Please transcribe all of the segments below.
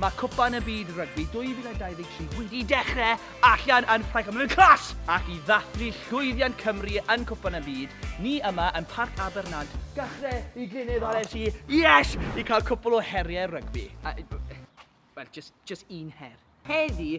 Mae Cwpan y Byd Rygbi 2023 wedi dechrau allan yn Ffrainc a mae'n mynd yn class! Ac i ddathlu llwyddiant Cymru yn Cwpan y Byd, ni yma yn Parc Abernant, gachrau i Glynedd ar FC, yes! i cael cwpl o heriau rygbi. Wel, jyst un her. Heddi,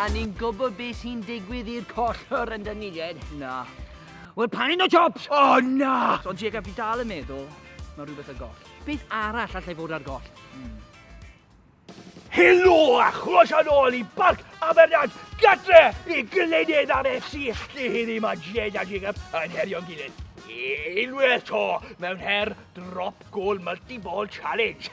A ni'n gwybod beth sy'n digwydd i'r collwr yn dynnu ded? Na. Wel, pan un o jobs! O, oh, na! Ond Jacob, fi dal yn meddwl, mae rhywbeth ar goll. Beth arall allai fod ar goll? Mm. Helo a chroeso nôl i Barc Abernac, gatre i Glynydd ar FC lle heddi mae Jed a Jacob yn herio'n gilydd. Unwaith to mewn her drop goal multi-ball challenge.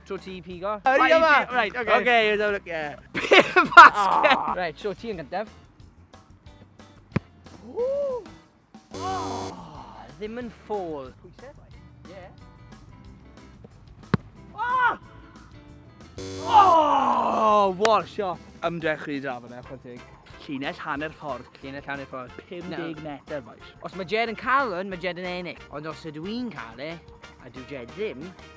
Tro ti i pigo. Yr un yma! Right, okay. Okay, you don't look, yeah. Pure basket! Oh. Right, tro ti yn gyntaf. Ooh. Oh, ddim yn ffôl. Pwysau? Yeah. Oh! Oh! What shot! Ymdrech chi da fyna, chwan teg. Llinell hanner ffordd. Llinell hanner ffordd. 50 metr, boys. Os mae Jed yn cael hwn, mae Jed yn ennill. Ond os ydw i'n cael e, a dwi Jed ddim,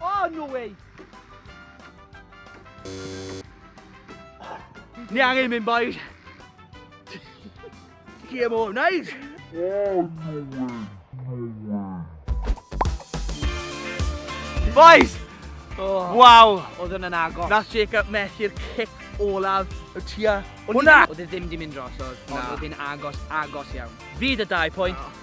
Oh, no way! Ni angen mynd, boys. Chi am o'n wneud? Oh, no way! Boys! Oh. Waw! Oedd yn yn agos. Nath Jacob methu'r cic olaf y tua. Hwna! Oedd e ddim di mynd dros, oedd. Oedd e'n agos, agos iawn. Fi dy dau pwynt. Oh.